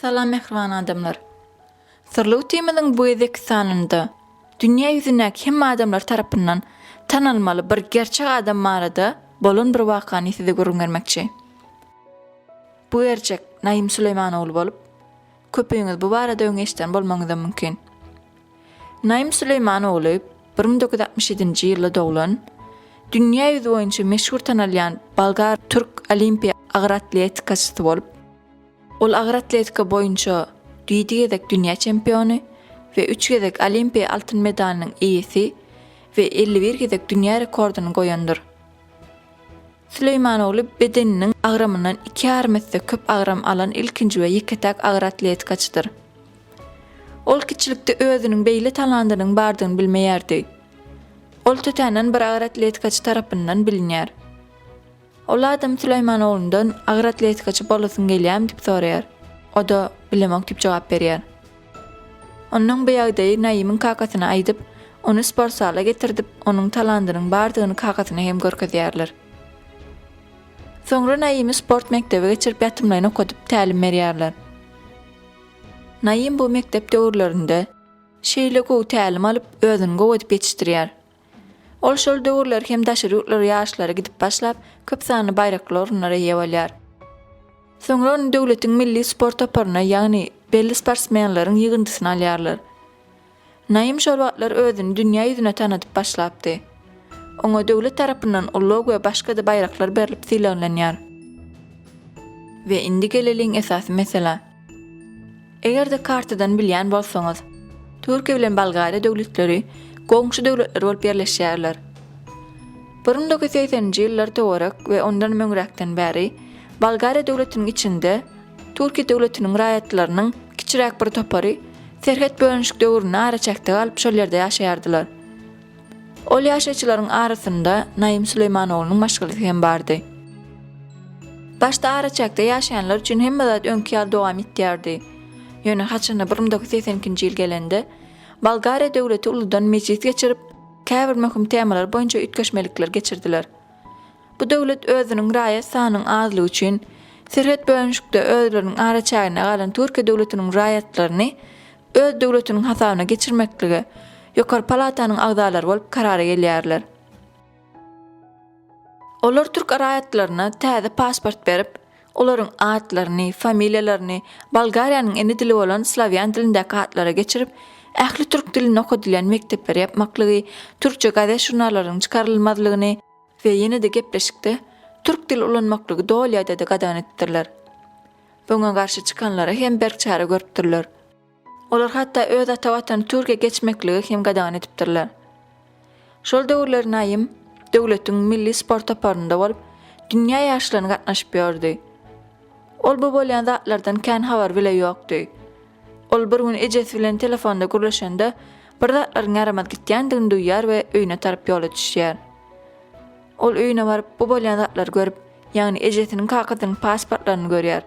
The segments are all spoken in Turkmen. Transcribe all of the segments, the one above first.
Salam mähriban adamlar. Syrly Utymyzyň bu gezekki sanynda dünýä ýüzündäki hemme adamlar tarapyndan tanalmaly bir gerçek adam barada bolan bir wakany size gürrüň bermekçi. Bu gerçek Naýym Süleýman ogly bolup, Köpüňiz bu barada öň eşiden bolmagyňyzam mümkin. Naim Süleýman ogly bir müň dokuz ýüz altmyş ýedinji ýylda doglan, dünýä ýüzi boýunça meşhur tanalýan bolgar türk olimpiýa agyr atletikaçysy bolup, ol agyr atletika boýunça ýedi gezek dünýä çempiony we üç gezek olimpiýa altyn medalynyň eýesi we elli bir gezek dünýä rekordyny goýandyr. Süleýman ogly bedeniniň agramyndan iki ýarym esse köp agram alan ilkinji we ýeke-täk agyr atletikaçydyr. Ol kiçilikde özüniň beýle talandynyň bardygyny bilmeýärdi. Ol tötänden bir agyr atletikaçy tarapyndan bilinýär. Ol adam Süleýman oglundan agyr atletikaçy bolasyň gelýärmi diýip soraýar. O-da bilemok diýip jogap berýär. Onnoň bu ýagdaýy Naýymyň kakasyna aýdyp, ony sportzala getirdip, onuň talandynyň bardygyny kakasyna hem görkezýärler. Soňra Naýymy sport mekdebe geçirip ýatymlaýyn okadyp, tälim berýärler. Naýym bu mekdep döwürlerinde şeýle gowy tälim alyp, özüni gowy edip ýetişdirýär. Ol şol döwürler hem daşary ýurtlara ýaşlary gidip başlap, köp sanly baýrakly orunlara eýe bolýar. Soňra ony döwletiň milli sport toparyna, ýagny belli sportsmenleriň ýygyndysyna alýarlar. Naim şol wagtlar özüni dünýä ýüzüne tanadyp başlapdy. Oňa döwlet tarapyndan ulag we başga-da baýraklar berlip sylaglanýar. We indi geleliň esasy meselä. Eger-de kartadan bilýän bolsaňyz, Türkiýe bilen Bolgariýa döwletleri goňşy döwletler bolup ýerleşýärler. Bir müň dokuz ýüz segseninji ýyllar töwerek we ondanam öňräkden bäri Bolgariýa döwletiniň içinde Türkiýe döwletiniň raýatlarynyň kiçiräk bir topary serhet bölünişik döwründe araçäkde galyp şol ýerde ýaşaýardylar. Ol ýaşaýjylaryň arasynda Naýym Süleýmanoglynyň maşgalasy hem bardy. Başda araçäkde ýaşaýanlar üçin hemme zat öňki ýaly dowam etýärdi. Ýöne haçanda bir müň dokuz ýüz segsen ikinji ýyl gelende, Bolgariýa döwleti uludan mejlis geçirip, käbir möhüm temalar boýunça üýtgeşmelikler geçirdiler. Bu döwlet özüniň raýat sanynyň azlygy üçin, serhet bölünişikde özleriniň araçäginde galan Türkiýe döwletiniň raýatlaryny öz döwletiniň hasabyna geçirmeklige Ýokary palatanyň agzalary bolup karara gelýärler. Olar türk raýatlaryna täze pasport berip, olaryň atlaryny, familiýalaryny Bolgariýanyň ene dili bolan slawýan dilindäki atlara geçirip, ähli türk dilinde okadylýan mekdepleri ýapmaklygy, türkçe gazet-žurnallaryň çykarylmazlygyny, we ýene-de gepleşikde türk dil ulanmaklygy doly ýadada gadagan etdirler. Öňe garşy çykanlara hem berk çare görüpdirler. Olar hatda öz ata watany türge geçmekligi hem gadagan edipdirler. Şol döwürler Naýym döwletiň milli sport toparynda bolup, dünýä ýaryşlaryna gatnaşyp ýördi. Ol bu bolýan zatlardan kän habar bile ýokdy. Ol bir gün ejesi bilen telefonda gürleşende, bir zatlaryň ýaramaz gitýändigini duýýar we öýüne tarap ýola düşýär. Ol öýüne baryp, bu bolýan zatlary görüp, ýagny ejesiniň kakasynyň pasportlaryny görýär.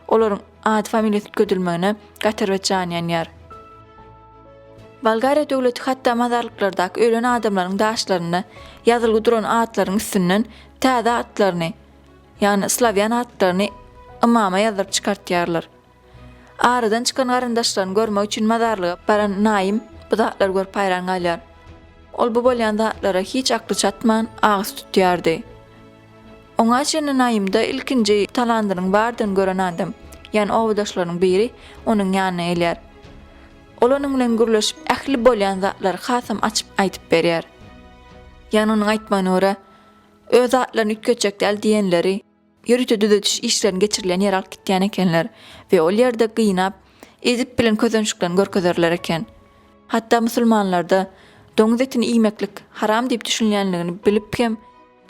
Olaryň ady-familiýasy üýtgedilmegine gaty bir jany ýanýar. Bolgariýa döwleti hatda mazarlyklardaky ölen adamlaryň daşlarynda ýazylgy duran atlaryň üstünden täze atlaryny, ýagny slawýan atlaryny ymama ýazdyryp çykartýarlar. Aradan çykan garyndaşlaryny görmek üçin mazarlyga baran Naýym bu zatlary görüp haýran galýar. Ol bu bolýan zatlara hiç akly çatman, agyz tutýardy. Oňa çenli Naýymda ilkinji talandynyň bardygyny gören adam, ýagny obadaşlarynyň biri onuň ýanyna gelýär. Ol onuň bilen gürleşip, ähli bolýan zatlary hasam açyp aýdyp berýär. Ýagny onuň aýtmagyna görä, öz zatlaryny üýtgetjek däl diýenleri, Ýörite düzediş işlerini geçirilýän ýere alyp gitýän ekenler we ol ýerde gynap, ezip bilen közençliklerini görkezerler eken. Hatda musulmanlarda doňuz etini iýmeklik haram diýip düşünilýänligini bilip hem,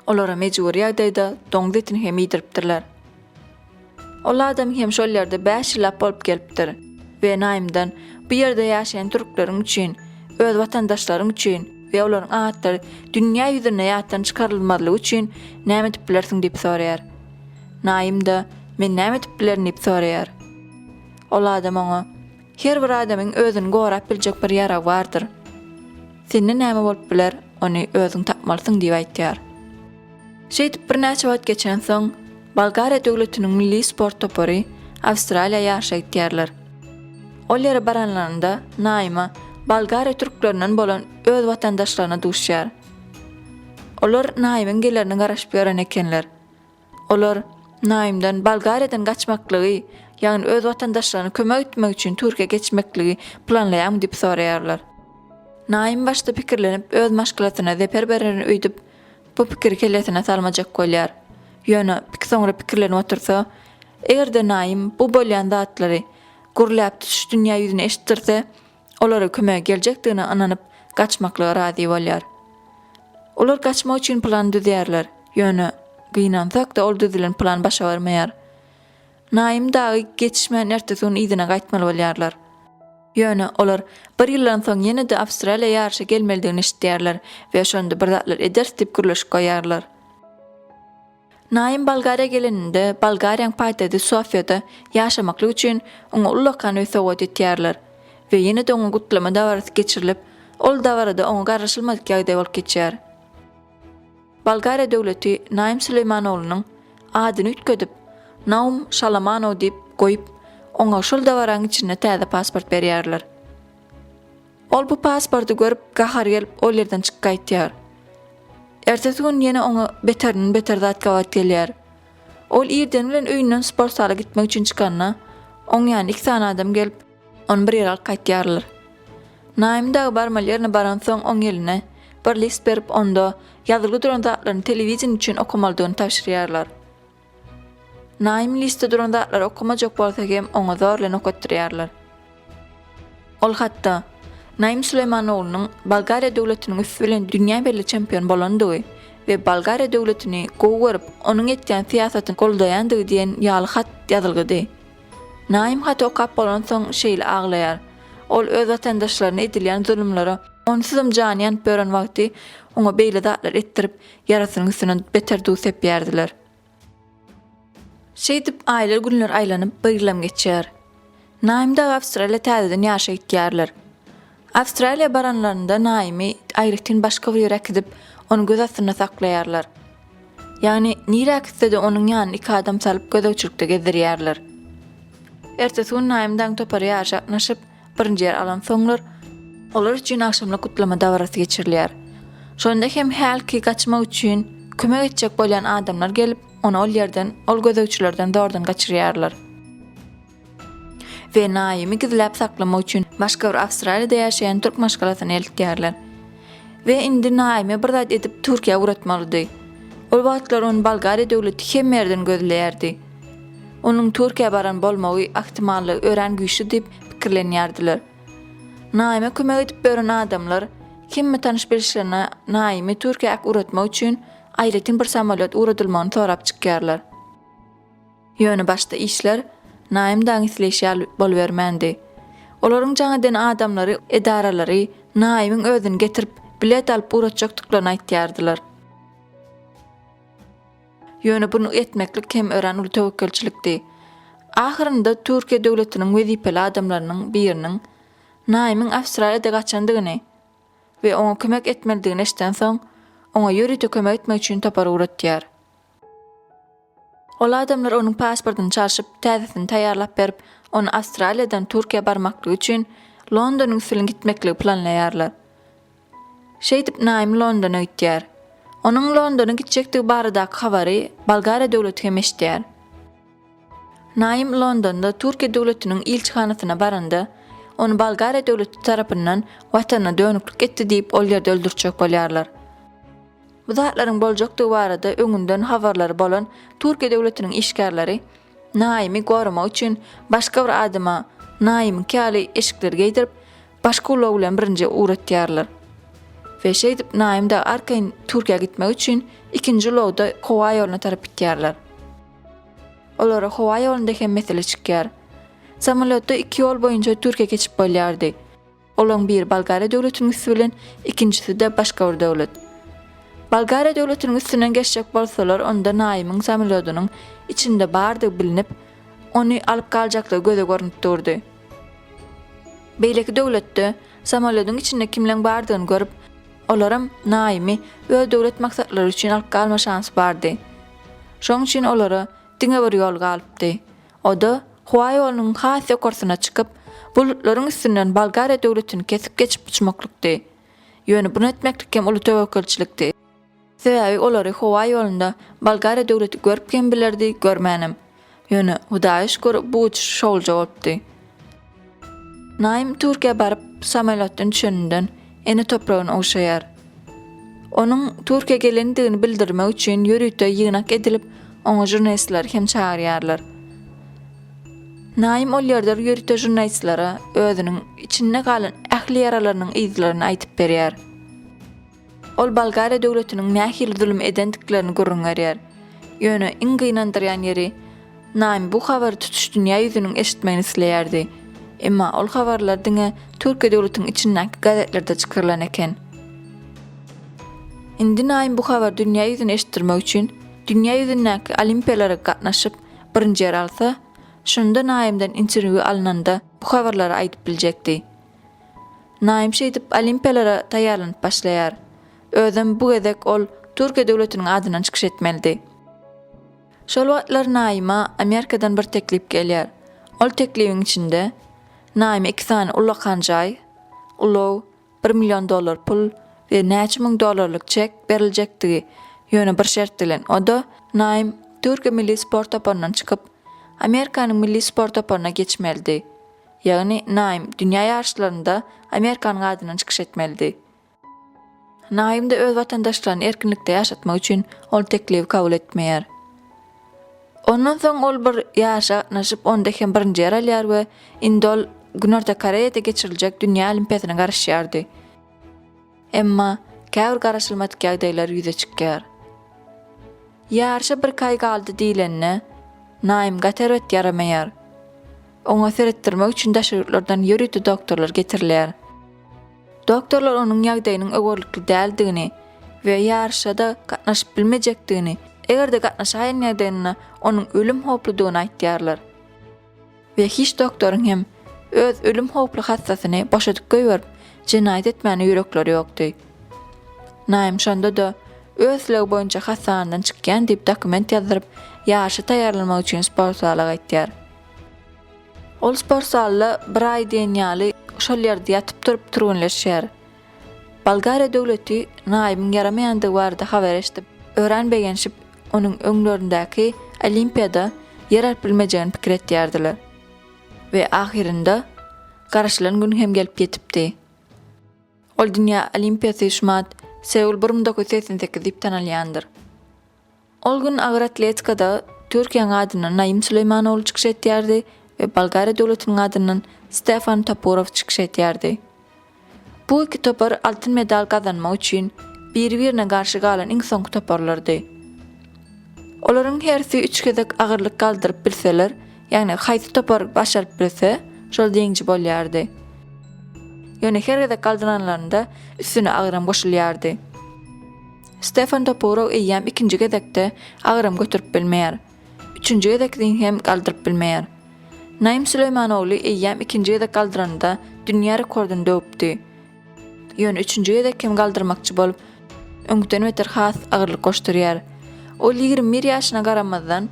olara mejbury ýagdaýda doňuz etini hem iýdiripdirler. Ol adam hem şol ýerde bäş ýyllap bolup gelipdir we Naýmdan bu ýerde ýaşaýan türkleriň üçin, öz watandaşlaryň üçin, we olaryň atlary dünýä ýüzünde ýatdan çykarylmazlygy üçin näme edip bilersiň diýip soraýar. Naýym-da, Men näme edip bilerin diýip soraýar. Ol adam oňa, Her bir adamyň özüni gorap biljek bir ýaragy bardyr. Sende näme bolup biler, ony özüň tapmalysyň diýip aýtýar. Şeýdip birnäçe wagt geçensoň, Bolgariýa döwletiniň milli sport topary Awstraliýa ýaryşa gitýärler. Ol ýere baranlarynda Naýma Bolgariýa türklerinden bolan öz watandaşlaryna duşýar. Olar Naýmyň gelerine garaşyp ýören ekenler. Olar Naýmdan Bolgariýadan gaçmaklygy, ýagny öz watandaşlaryna kömek etmek üçin Türkiýä geçmekligi planlaýarmy diýip soraýarlar. Naým başda pikirlenip öz maşgalasyna zeper bererin öýdüp, Bu pikiri kellesine salmajak bolýar. Ýöne pik soňra pikirlenip otursa, eger-de Naýym bu bolýan zatlary gürläp tutuş dünýä ýüzüne eşitdirse, olara kömege geljekdigine ynanyp, gaçmaklyga razy bolýar. Olar gaçmak üçin plan düzýärler, ýöne gynansak-da ol düzülen plan başa barmaýar. Naýym dagy geçişmän ertesi gün yzyna gaýtmaly bolýarlar. Ýöne, olar bir ýyldan soň ýene-de Awstraliýa ýaryşa gelmelidigini eşidýärler we şonda bir zatlar ederis diýip gürleşip goýýarlar. Naýym Bolgariýa geleninde, Bolgariýaň paýtagty Sofiýada ýaşamaklyk üçin oňa ullakan öý sowgat etýärler we ýene-de oňa gutlama dabarasy geçirilip, ol dabarada oňa garryşylmadyk ýagdaý bolup geçýär. Bolgariýa döwleti Naim Süleýmanoglunun adyny üýtgedip, Naum Şalamanow diýip goýup, oňa şol dabaraň içinde täze pasport berýärler. Ol bu pasporty görüp, gahary gelip, ol ýerden çykyp gaýtýar. Ertesi gün ýene oňa beterinden beter zat gabat gelýär. Ol irden bilen öýünden sport zala gitmek üçin çykanda, oň ýanyna iki sany adam gelip, On bir ýyl alyp gaýtýarlar. Naýym dagy barmaly ýerine baransoň, oň eline bir list berip, onda ýazylgy duran zatlaryny telewideniýe üçin okamalydygyny tabşyrýarlar. Naýym listde duran zatlary okamajak bolsa hem, oňa zor bilen okatdyrýarlar. Ol hatda, Naýym Süleýman oglunyň Bolgariýa döwletiniň üsti bilen dünýä belli çempion bolandygy we Bolgariýa döwletini gowy görüp, onuň etýän syýasatyny goldaýandygy diýen ýaly hat ýazylgydy. Naim haty okap bolansoň şeýle aglaýar. Ol öz watandaşlaryna edilýän zulumlara onsuzam jany ýanyp ýören wagty oňa beýle zatlar etdirip, ýarasynyň üstüne beter duz sepýärdiler. Şeýdip aýlar günler aýlanyp, bir ýylam geçýär. Naim dagy Awstraliýa täzeden ýaşa gitýärler. Awstraliýa baranlarynda Naýymy aýratyn başga bir ýere äkidip, ony göz astynda saklaýarlar. Ýagny, nirä äkitse-de onuň ýanyna iki adam salyp gözegçilikde gezdirýärler. Ertesi gün Naýym dagyň topary ýaryşa gatnaşyp, birinji ýer alansoňlar, olar üçin agşamlyk gutlama dabarasy geçirilýär. Şonda hem hälki gaçmak üçin kömek etjek bolýan adamlar gelip, ony ol ýerden, ol gözegçilerden zordan gaçyrýarlar. we Naýymy gizläp saklamak üçin başga bir Awstraliýada ýaşaýan türk maşgalasyna eltýärler. We indi Naýymy bir zat edip Türkiýä ugratmalydy. Ol wagtlar ony Bolgariýa döwleti hemme ýerden gözleýärdi. Onuň Türkiýä baran bolmagy ahtimallygy örän güýçli diýip pikirlenýärdiler. Naýyma kömek edip bören adamlar hemme tanyş-bilişlerine Naýymy Türkiýä äk ugratmak üçin aýratyn bir samolýot ugradylmagyny sorap çykýarlar. Ýöne başda işler Naýym dagyň isleýşi ýaly bolubermändi. Olaryň jaň eden adamlary, edaralary Naýymyň özüni getirip, bilet alyp ugratjakdyklaryny aýtýardylar. Ýöne bunu etmeklik hem örän uly töwekgelçilikdi. Ahyrynda Türkiýe döwletiniň wezipeli adamlarynyň biriniň Naýymyň Awstraliýada gaçandygyny we oňa kömek etmelidigini eşidensoň, oňa ýörite kömek etmek üçin topar ugratýar. Ol adamlar onuň pasportyny çalşyp, täzesini taýýarlap berip, ony Awstraliýadan Türkiýä barmaklygy üçin London usulyny gitmekligi planlaýarlar. Şeýdip, Naim Londona gitýär. Onuň Londona gitjekdigi baradaky habary Bolgariýa döwleti hem eşidýär. Naim Londonda Türkiýe döwletiniň ilçihanasyna baranda, ony Bolgariýa döwleti tarapyndan watanyna dönüklik etdi diýip ol ýerde öldürtjek bolýarlar. Bu zatlaryň boljakdygy barada öňünden habarlary bolan Türkiýe döwletiniň işgärleri Naimi goramak üçin başga bir adama Naimiňki ýaly eşikleri geýdirip, başga ulag bilen birinji ugratýarlar. We şeýdip Naim dagy arkaýyn Türkiýä gitmek üçin ikinji ulagda howa ýoluna tarap gitýärler. Olara howa ýolunda hem mesele çykýar. Samolýotda iki ýol boýunça Türkiýä geçip bolýardy. Olaryň biri Bolgariýa döwletiniň üsti bilen, ikinjisi-de başga bir döwlet. Bolgariýa döwletiniň üstünden geçjek bolsalar, onda Naýymyň samolýodynyň içinde bardygy bilinip, ony alyp galjaklygy göze görnüp durdy. Beýleki döwletde samolýodyň içinde kimleň bardygyny görüp, olaram Naýymy öz döwlet maksatlary üçin alyp galma şansy bardy. Şonuň üçin olara diňe bir ýol galypdy. O-da howa ýolunyň has ýokarsyna çykyp, bulutlaryň üstünden Bolgariýa döwletini kesip geçip uçmaklykdy. Ýöne bunu etmeklik hem uly töwekgelçilikdi. Sebäbi olary howa ýolunda Bolgariýa döwleti görüp hem bilerdi, görmänem. Ýöne, Hudaýa şükür, bu uçuş şowluja bolupdy. Naim Türkiýä baryp, samolýotdan düşeninden ene topragyny ogşaýar. Onuň Türkiýä gelendigini bildirmek üçin ýörite ýygnak edilip, oňa žurnalistleri hem çagyrýarlar. Naim ol ýerde ýörite žurnalistlere özüniň içinde galan ähli ýaralarynyň yzlaryny aýdyp berýär. Ol Bolgariýa döwletiniň nähili zulum edendiklerini gürrüň berýär. Ýöne iň gynandyrýan ýeri, Naim bu habary tutuş dünýä ýüzüniň eşitmegini isleýärdi. Emma ol habarlar diňe Türkiýe döwletiniň içindäki gazetlerde çykarylan eken. Indi Naim bu habary dünýä ýüzüne eşitdirmek üçin dünýä ýüzündäki olimpiýalara gatnaşyp, birinji ýer alsa, şonda Naimden interwýu alnanda bu habarlary aýdyp biljekdi. Naim şeýdip Olimpiýalara taýýarlanyp başlaýar. Özem bu gezek ol Türkiýe döwletiniň adyndan çykyş etmelidi. Şol wagtlar Naima Amerikadan bir teklip gelýär. Ol teklibiň içinde Naime iki sany ullakan jaý, ulag, bir million dollar pul we näçe müň dollarlyk çek beriljekdigi, ýöne bir şert bilen, o-da Naim Türkiýe milli sport toparyndan çykyp, Amerikanyň milli sport toparyna geçmelidi. Ýagny Naim dünýä ýaryşlarynda Amerikanyň adyndan çykyş etmelidi. Naim-de öz watandaşlaryny erkinlikde ýaşatmak üçin ol teklibi kabul etmeýär. Ondan soň ol bir ýaryşa gatnaşyp, onda hem birinji ýer alýar we indi ol Günorta Koreýada geçiriljek Dünýä Olimpiýasyna garaşýardy. Emma käbir garaşylmadyk ýagdaýlar ýüze çykýar. Ýaryşa birki aý galdy diýlende, Naim gaty erbet ýaramaýar. Oňa seretdirmek üçin daşary ýurtlardan ýörite doktorlar getirilýär. Doktorlar onuň ýagdaýynyň öwerlikli däldigini we ýaryşa-da gatnaşyp bilmejekdigini, eger-de gatnaşaýan ýagdaýynda onuň ölüm howpludygyny aýtýarlar. We hiç doktoryň hem öz ölüm howply hassasyny boşadyp goýberip jenaýat etmäne ýürekleri ýokdy. Naim şonda-da öz slegi boýunça hassahanadan çykýan diýip dokument ýazdyryp ýaryşa taýýarlanmak üçin sport zala gaýtýar. Ol sport zalda bir aý diýen ýaly şol ýerde ýatyp-turup türgenleşýär. Bolgariýa döwleti Naýybyň ýaramaýandygy barada habar eşidip, örän begenşip, onuň öňlerindäki Olimpiýada ýer alyp bilmejegini pikir etýärdiler. We ahyrynda garaşylan gün hem gelip ýetipdi. Ol dünýä Olimpiýasy şumat Seul bir müň dokuz ýüz segsen sekiz diýip tanalýandyr. Ol gün agyr atletikada Türkiýäň adyndan Naim Suleýmanoğlu çykyş etýärdi we Bolgariýa döwletiniň adyndan Stefan Topurow çykyş etýärdi. Bu iki topar altyn medal gazanmak üçin biri-birine garşy galan iň soňky toparlardy. Olaryň hersi üç gezek agyrlyk galdyryp bilseler, ýagny haýsy topar başaryp bilse, şol ýeňiji bolýardy. Ýöne her gezek galdyranlarynda üstüne agyram goşulýardy. Stefan Topurow eýýäm ikinji gezekde agram göterip bilmeýär. Üçünji gezek ring hem galdyryp bilmeýär. Naim Süleýmanogly eýýäm ikinji gezek galdyranda dünýä rekordyny döwüpdi. Ýöne üçünji gezek hem galdyrmakçy bolup, öňküden beter has agyrlyk goşdurýar. Ol ýigrimi bir ýaşyna garamazdan,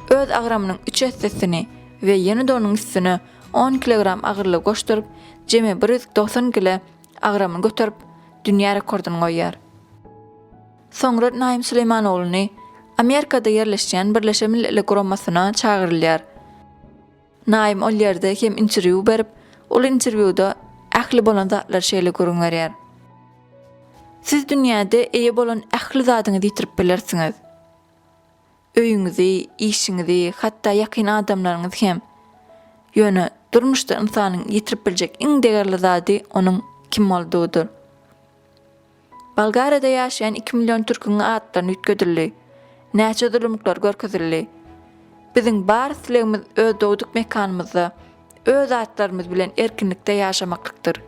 öz agramynyň üç essesini we ýene-de onuň üstüne on kilogram agyrlygy goşduryp, jemi bir ýüz togsan kile agramyny göterip, dünýä rekordyny goýýar. Soňra Naim Süleýman ogluny Amerikada ýerleşýän Birleşen Milletler Guramasyna çagyrylýar. Naim ol ýerde hem interwýu berip, ol interwýuda ähli bolan zatlary şeýle gürrüň berýär. Siz dünýäde eýe bolan ähli zadyňyzy ýitirip bilersiňiz. Öýüňizi, işiňizi, hatda ýakyn adamlaryňyzy hem. Ýöne durmuşda ynsanyň ýitirip biljek iň degerli zady onuň kim boldugydyr. Bolgariýada ýaşaýan iki million türküň atlaryny üýtgedildi. Näçe zulumlyklar görkezildi. Biziň bar islegimiz öz dogduk mekanymyzda, öz atlarymyz bilen erkinlikde ýaşamaklykdyr.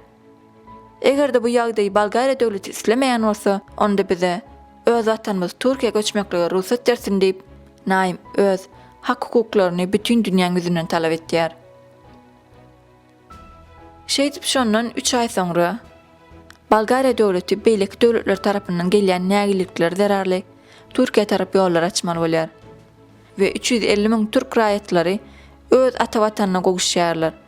Eger-de bu ýagdaýy Bolgariýa döwleti islemeýän bolsa, onda bize, öz watanymyz Türkiýä göçmeklige rugsat bersin diýip, Naim öz hak-hukuklaryny bütin dünýäň ýüzünden talap etýär. Şeýdip şondan üç aý soňra, Bolgariýa döwleti beýleki döwletler tarapyndan gelýän nägilelikler zerarly Türkiýä tarap ýollar açmaly bolýar we üç ýüz elli müň türk raýatlary öz ata watanyna gowuşýarlar.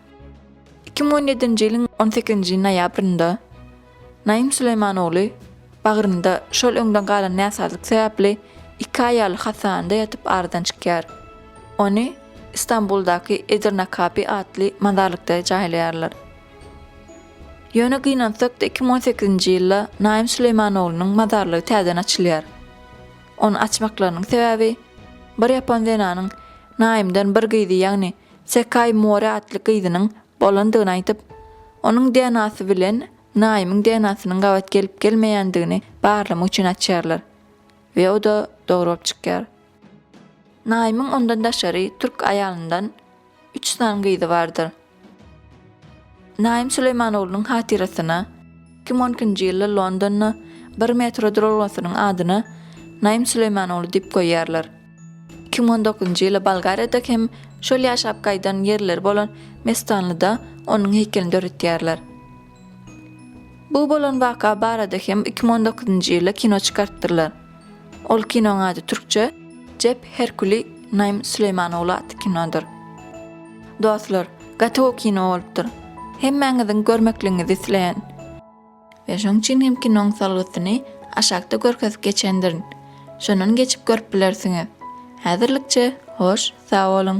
Iki müň on ýedinji ýylyň on sekizinji noýabrynda Naim Süleýman ogly bagrynda şol öňden galan näsazlyk sebäpli iki aý ýaly hassahanada ýatyp aradan çykýar. Ony Istanbuldaky Edirnakapi atly mazarlykda jaýlaýarlar. Ýöne gynansak-da iki müň on sekizinji ýylda Naim Süleýman oglunyň mazarlygy täzeden açylýar. Ony açmaklarynyň sebäbi bir ýapon zenanyň Naimden bir gyzy ýagny Sekaý More atly gyzynyň bolandygyny aýdyp, onuň DNA-sy bilen Naýymyň DNA-synyň gabat gelip-gelmeýändigini barlamak üçin açýarlar we o-da dogry bolup çykýar. Naýymyň ondan daşary türk aýalyndan üç sany gyzy bardyr. Naim Süleýmanoglunun hatyrasyna iki müň on ikinji ýylda Londonda bir metro duralgasynyň adyna Naim Süleýmanogly diýip goýýarlar. Iki müň on dokuzynjy ýyla Bolgariýada hem şol ýaşap gaýdan ýerleri bolan Mestanlyda onuň heýkelini döretýärler. Bu bolan waka barada hem iki müň on dokuzynjy ýylda kino çykartdyrlar. Ol kinoň ady türkçe Jep Herkuli Naim Süleýmanogly atly kinodyr. Dostlar, gaty gowy kino bolupdyr. Hemmäňiziň görmekligiňizi isleýän. We şoň üçin hem kinoň salgysyny aşakda görkezip geçendirin. Şondan geçip görüp bilersiňiz. Häzirlikçe, hoş, sag boluň!